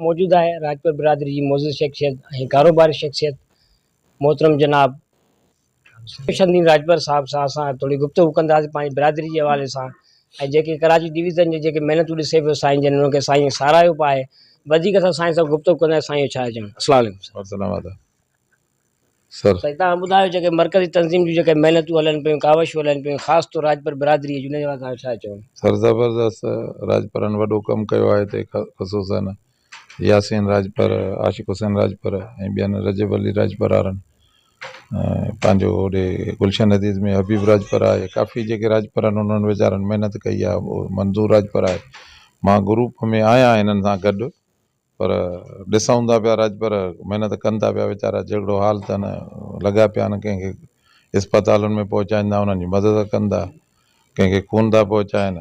موجود آهي راجپوت برادري جي معزز شخصيت ۽ ڪاروباري شخصيت محترم جناب خوش الدين راجپر صاحب سان اسان ٿوري گفتگو ڪنداسين پنهنجي برادري جي حوالي سان ۽ جيڪي ڪراچي ڊويزن جي جيڪي محنتون ڏسي پيو سائين جن انهن کي سائين ساراهيو به آهي وڌيڪ اسان سائين سان گفتگو ڪنداسين سائين جو ڇا چوڻ السلام عليڪم سائين. سر. سائين توهان ٻڌايو جيڪي مرڪزي تنظيم جون جيڪي محنتون هلن پيون ڪاوشون هلن پيون خاص طور راڄپر برادري جون ان جي باري توهان جو ڇا چوڻ. سر زبردست راڄپرن وڏو ڪم ڪيو آهي هتي خصوصا ياسين راڄپر عاشق حسين راڄپر ۽ ٻين رجب علي راڄپر وارن پنهنجو هوڏي گلشن حديد ۾ حبيب راڄپر آهي ڪافي جيڪي راڄپرن انهن ويچارن محنت ڪئي آهي منظور راڄپر آهي مان گروپ ۾ آهيان هنن سان گڏ پر ڏسائون ٿا پيا راڄپر محنت ڪن ٿا پيا ويچارا جهڙو حال اٿن لڳا پيا آهن ڪنهن کي اسپتالن ۾ پهچائين ٿا انهن جي مدد ڪن ٿا ڪنهن کي خون ٿا پهچائين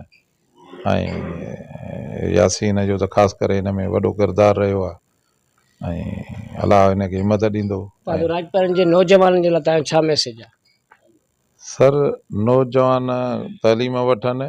۽ ياسين جو ته خاص ڪري ان ۾ وڏو ڪردار رهيو آهي ۽ الله ان کي همت ڏيندو پاڻ راڄپرن جي نوجوانن جي لاء تنهنجو ڇا ميسيج آهي؟ سر نوجوان تعليم وٺن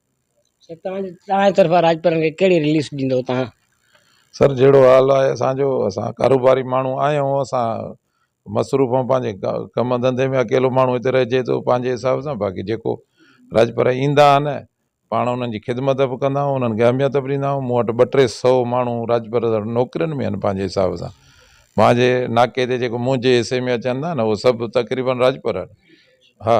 توهان جي طرفان راڄپارن کي ڪهڙي رليس ڏيندو توهان. سر جهڙو حال آهي اسان جو اسان ڪاروباري ماڻهو آهيون اسان مصروف آهيون پنهنجي ڪم ڌنڌي ۾ اڪيلو ماڻهو هتي رهجي ٿو پنهنجي حساب سان باقي جيڪو راڄپر ايندا آهن پاڻ انهن جي خدمت به ڪندا آهيون انهن کي اهميت به ڏيندا آهيون مون وٽ ٻه ٽي سو ماڻهو راڄپر نوڪرين ۾ آهن پنهنجي حساب سان مانجهي ناڪي تي جيڪو منهنجي حصي ۾ اچن ٿا نه اهو سڀ تقريبن راڄپر آهن ها